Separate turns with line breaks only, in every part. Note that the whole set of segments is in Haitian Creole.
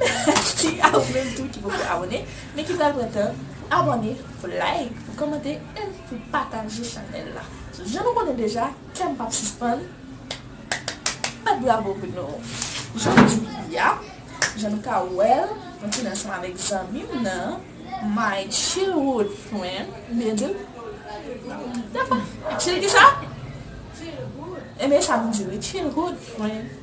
Mèsi a ou menm tou ki poko abone men ki pral pran tan abone pou like pou kòmante e pou pataje chanèl la jan nou konnen deja kèm pap sispann bat bravo pou nou jodia jan nou ka wèl mwen te ansanm avèk zanmim nan my childhood friend ou byen dil dapa chil kisa? childhood ebyen sa nou di wi childhood friend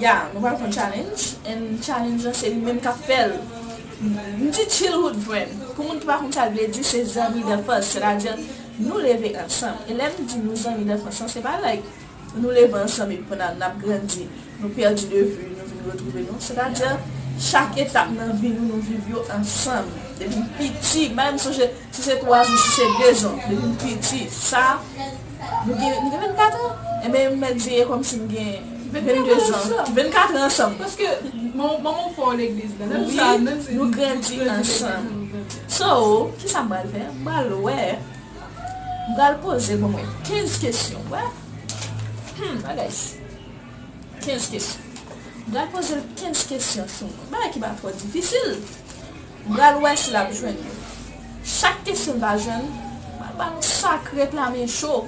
Ya nou pral fon challenge and challenge lan se li menm kap fèl M di childhood friend pou moun ki pa konn sa l vle di se zanmi danfans sètadi nou leve ansanm e lèm di nou zanmi danfans lan se pa like nou leve ansanm epi pandan nap grandi nou pèdi de vu nou vin retwouve nou sètadi chak etap nan vi nou nou viv yo ansanm depi piti m pa menm sonje Si se 3 jou, si se 2 jan, depi m piti, sa, nou gen, nou gen 24 an? Enben m mèt veye kòmsi m gen 22 jan, 24 an ansanm. Paske
manman w fè w legliz la. Menm sa, menm si. Wi, nou grandi
ansanm. So, kisa m pral fè? M pral wè, m pral poze bon mwen 15 kesyon. Wè? Hum, bagay si. 15 kesyon. M pral poze l 15 kesyon sou mwen. Bagay ki pa twò difisil. M pral wè si l ap jwenn yo. Chak kesyon l pa jwenn, m pral ba l yon sak ret la men cho.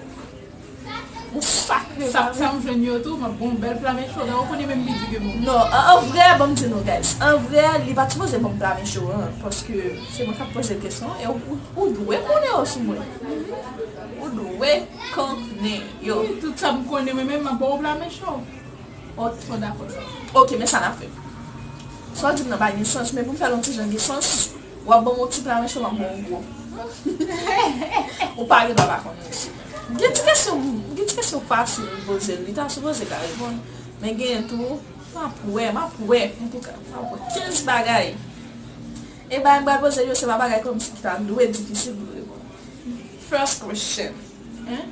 Yon sak ret la. Sa m jwenn yo tou, m ap
ba w yon bèl pla men cho. Gade, ou konnen menm li di ke bon. Non, an vrè, ban
m di nou guys, an vrè, li pa t sipoze ban m pla men cho an, paske se mwen k ap poze l kesyon e ou dwe konnen yo sou mwen. Ou dwe konnen yo. Wi, tout sa m konnen
mwen menm, m ap ba w pla men cho. Ok. Ou dakò
sa? Ok, men sa n ap fè. Sa w di m nan pa gen sans men pou m fè l yon ti jan gen sans, w ap ban m yon ti pla menso m ap ban w yon gwo. Ou pa rive pa konn mesye. Gen ti kesyon gen ti kesyon fasil m poze l li ta sipoze ka reponn men genyen tou m ap wè m ap wè antouka m ap wè 15 bagay e bagay m pral poze l yo se pa bagay kòmsi ki ta dwe difisil pou l reponn. First question,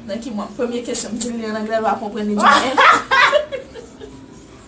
Nan ki mwa? Premye kesyon m di l li an anglè l pa konprann li di m en.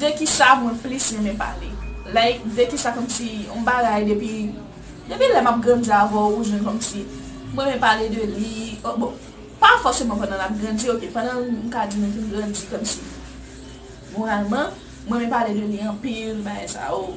De kisa mwen plis renmen pale? Like de kisa kòmsi yon bagay depi depi lè map grandi avèw ou jwenn kòmsi m renmen pale de li bon pa fòseman pandan nap grandi ok pandan m ka di nou fin grandi kòmsi moralman m renmen pale de li anpil bagay sa yo.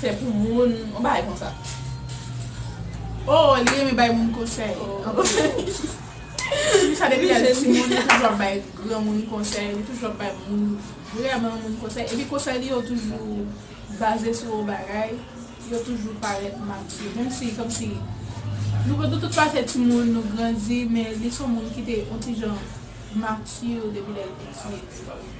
Fè pou moun, yon bagay konsa.
Oh li renmen bay moun konsèy. Depi sa depi lè l ti moun li toujou ap bay granmoun konsèy, li toujou ap bay moun vrèman moun konsèy epi konsèy li yo toujou baze sou yon bagay, yo toujou parèt mati menm si kòmsi nou nou tout pase ti moun nou grandi men li son moun ki te yon ti jan mati depi lè l piti.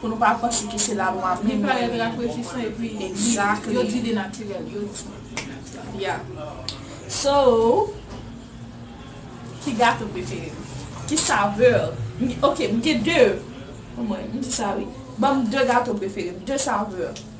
Pou nou pa panse ke se lalwa menm yo renmen an bon kote. Exactly.
Yeah. So, ki
gato prefere m? Ki saveur? Ok, m gen 2. Omwen, m di sa wi. Banm 2 gato prefere m, 2 saveur.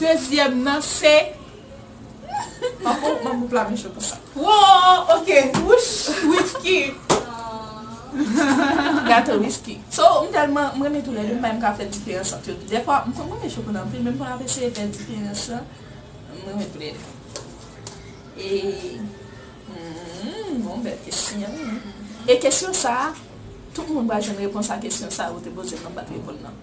Dezyèm nan se Pako ban
group la mechant konsa. Woo ok
wouch whisky
Gato whisky So m telman m renmen tou le 2 m pa menm ka fe diferans ant yo tou Defwa m konn renmen chokola anpil men m konn ap eseye fe diferans lan M renmen tou le 2 Humm bon bel kesyon E kesyon sa tout moun pral jwenn repons a kesyon sa ou te poze m nan m pat reponn nan.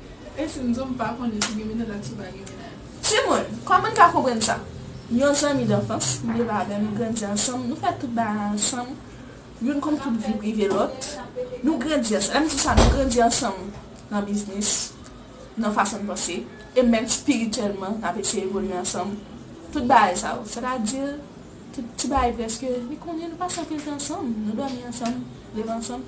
Esi
m di w m pa konnen si gen mennaj ak si pa gen mennaj. Timoun,
kòman n ka konprann sa? Yon zanmi danfans, m leve avè l, nou grandi ansanm, nou fè tout bagay ansanm, youn konn tout vi prive lòt, nou grandi ansanm, lè m di sa nou grandi ansanm nan biznis, nan fason n panse, e menm spirityèlman n ap eseye evolye ansanm, tout bagay sa yo, sètadi tout ti bagay prèske, li konnen nou pase anpil tan ansanm, nou dòmi ansanm, leve ansanm.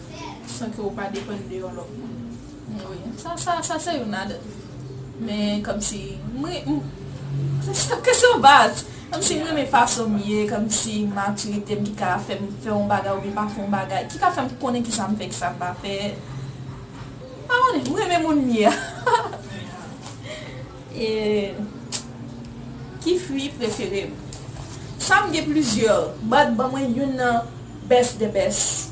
San ke ou pa depann de yon lòt moun. Wi.
Sa, sa, sa se youn ladan. Men, kòmsi, m ren, m, se sa, kesyon baz. Kòmsi m renmen fason m ye, kòmsi matirite m ki ka fè m fè yon bagay oubyen pa fè yon bagay, ki ka fè m konnen kisa m fè, kisa m pa fè. M pa konnen, m renmen moun m ye a. E, ki fwi prefere m? Sa m gen plizyè, bat ban mwen youn nan best the best.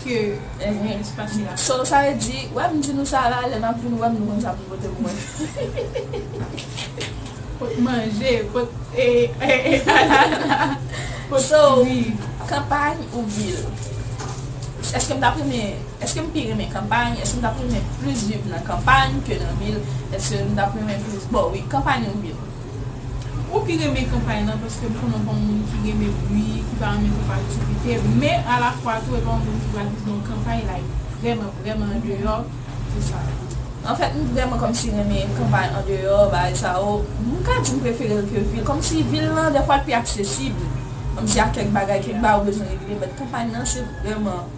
ke enyen ki pase la. So sa vle di wè
m di nou sa la lè nap vin wè m nou konn sa pou n pote pou mwen. Pot
manje, pot anana,
pot fwi. So kanpay ou vil? Eske m tap renmen, eske m pi renmen kanpay, eske m tap renmen plis viv nan kanpay ke nan vil, eske m tap renmen plis bon wi kanpay ou vil? Ou pi
renmen kanpay lan paske m konnen w pa yon moun ki renmen bwi, ki pa renmen twòp aktivite, men alafwa tou e pa yon moun ki pral viv nan yon kanpay like vrèman vrèman andeyò pou sa yo. Anfèt m
vrèman kòmsi renmen kanpay andeyò bagay sa yo, m ka di m prefere l ke vil kòmsi vil lan dèfwa l pi aksesib kòmsi a kèk bagay, kèk bagay ou bezwen regle, bèt kanpay lan se vrèman.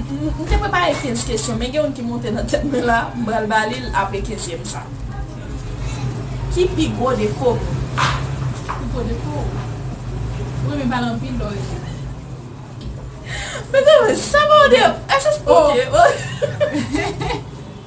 M te prepare 15 kesyon men gen youn ki monte nan tèt mwen la, m pral ba li l apre kenzyèm sa. Ki pi gwo defo m? Pi
gwo defo w? Ou renmen pale anpil lè
w rete. Mezanmi sa pa yon defo, eske se ok?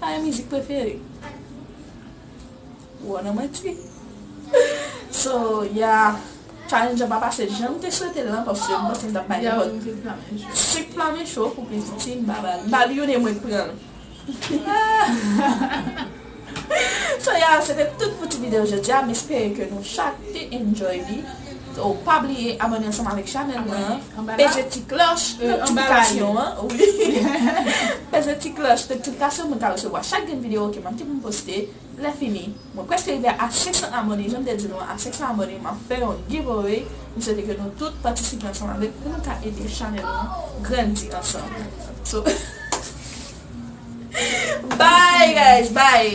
Sa e mizik prefere ou an nan manti. So yeah Challenge lan pa pase janm te swetel lan paske m panse m tap bay nenpòt
Suk flamen
cho pou plis ti m pa bal m bal youn e mwen k pranl So yeah se te tout pou ti video jodi a m espere ke nou chak te enjoy li. So pa bliye abòne ansanm avèk chanèl mwen an, peze ti klòch notifikasyon an, peze ti klòch notifikasyon pou nou ka resevwa chak grenn videyo ke map gen pou m poste, lèfini mwen prèske rive a 500 abòne janm te di nou a 500 abòne map fè yon giveaway, m swete ke nou tout patisipe ansanm avèk pou nou ka ede chanèl nou an grandi ansanm so bye
guys
bye.